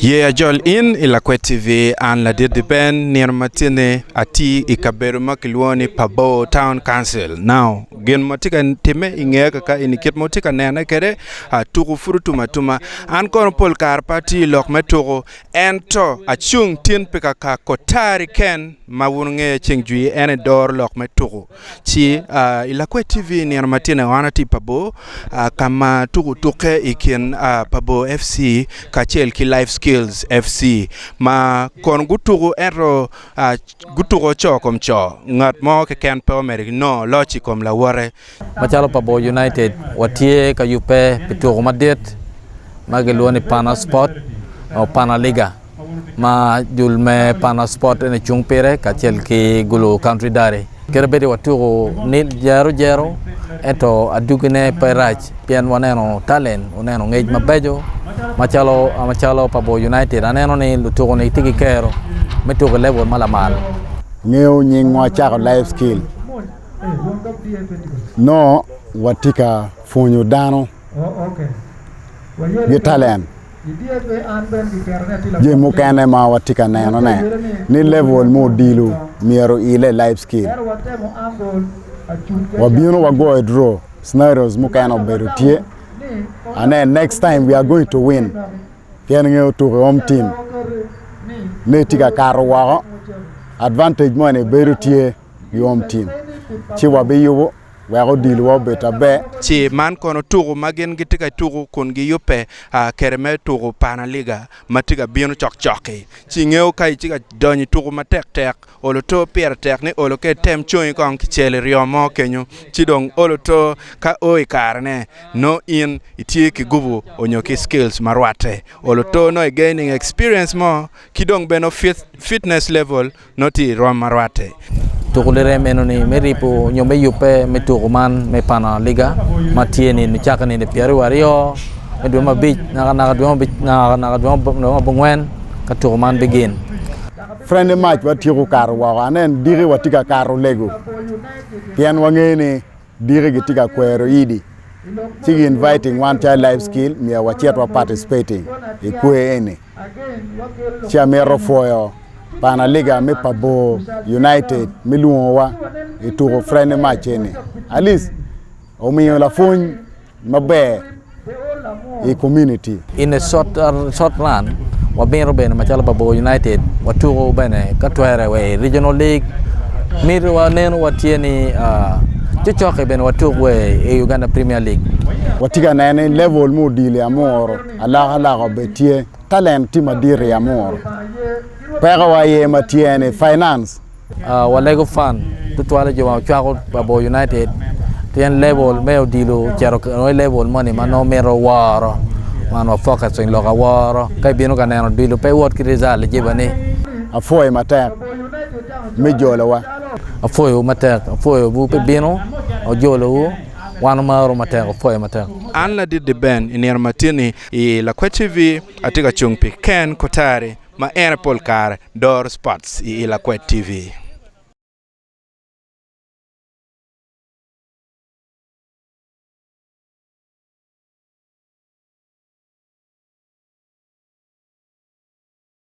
Ye ajol in i Lakwed TV. An Ladit-ti Ben nino ma cen-ni atye i kabedo ma kilwongo ni Pabor Town Council. Now, gin ma tye ka timme i ngeya kakaeni, kit ma wutye ka nene kwede, tuko pud otum atuma. An kono pol kare pe atye i lok me tuko, ento acung tin pi kaka kotari keken ma wun wungeya ceng jwir, en aye doro lok me tuko. Ci i Lakwed TV nino ma tye-ni wan atye i Pabo ka ma tuko tukke i kin Pabo FC kacel ki Life Skills FC ma kono gutuko ento gutuko co kom co ngat mo keken pe omedo ki nongo loc i kom lawote. Macalo Pabo United watye ka yubbe pi tuko madit ma gilwongo ni Pana Sport nyo Pana Liga. ma jul me Pana Sport ene cung pire kacel ki Gulu Country Diary. Kere bedi watuku ni jero jero ento adugine pe rac pien waneno talent, waneno ngec mabeco macalo macalo pa Bor United. Aneno ni lutuku ni tye ki kero me tuku i level ma lamal. Ngeyo nyingwa cako life skill nongo watye ka pwonyo dano ki talent. Jami mukene ma watye ka nenone ni level me odilo myero oile i life skill. Wabino wagoyo draw scenarios mukene obedo tye. Ane next time we are going to win. Pien ngeyo tuko i home team ne tye ka kato woko. Advantage moni bedo tye. yomcwiny ci wabiyubo wek odilwa obed aber. Ci man kono tuku ma gin gitye ka tuku kun giyubbe kede me tuku Pana Liga ma tye ka bino cokcok-ki. Ci ingeyo ka itye ka donyo i tuku matek tek, olo to pire tek ni olo ka item congi kong ki cel iryo mo kenyo ci dong olo to ka o i karene nongo in itye ki gupu onyo ki skills ma rwatte. Olo to nongo i gaining experience mo ki dong bene fitness level. nongo tye i rwom ma rwatte. Tuku lirem enoni me ribo nyo me yubbe me tuku man me Pana Liga ma tye nino cake nino pyeraryo aryo me dwe ma abic naka naka dwe ma naka naka dwe ma abongwen ka tuku man bigin. Freni mac watyeko kato woko anen diki watye ka kato lego pien wangeyo ni. Diki gitye ka kwero idi ci gi inviting wan calo life skill myero wacit wa participating i kwer eni. Ci amito pwoyo panaliga me Pabor United me lwongowa i tuko friendly match eni. At least omiyo lapwony maber i komuniti. I nge sot man, wabino bene macalo Babogo United watuko bene ka twere wa i Regional League. Miti wa neno wa tye ni cocoki bene watuk wa i Uganda Premier League. Watye ka neno ni level me odilo i Amuru alakalaka obed tye. Talent tye madit i Amuru. Peko wa aye ma tye ni finance. Walego fan tutwal i jo ma ocwako labongo United pien level me odilo ocito i level moni ma nongo mito woro man wa focus i lok aworo ka ibino ka neno odilo pe wot ki result i jiba ni. Apwoyo matek me jolowa. Apwoyowu matek. Apwoyo bu pi bino wa jolowu. Wan wamarowu matek. Apwoyo matek. An Ladit Di Ben i nino matini i Lakwed TV atye ka cung pi Ken Kotari. Ma en aye pol kare doro Sports i I Lakwed TV.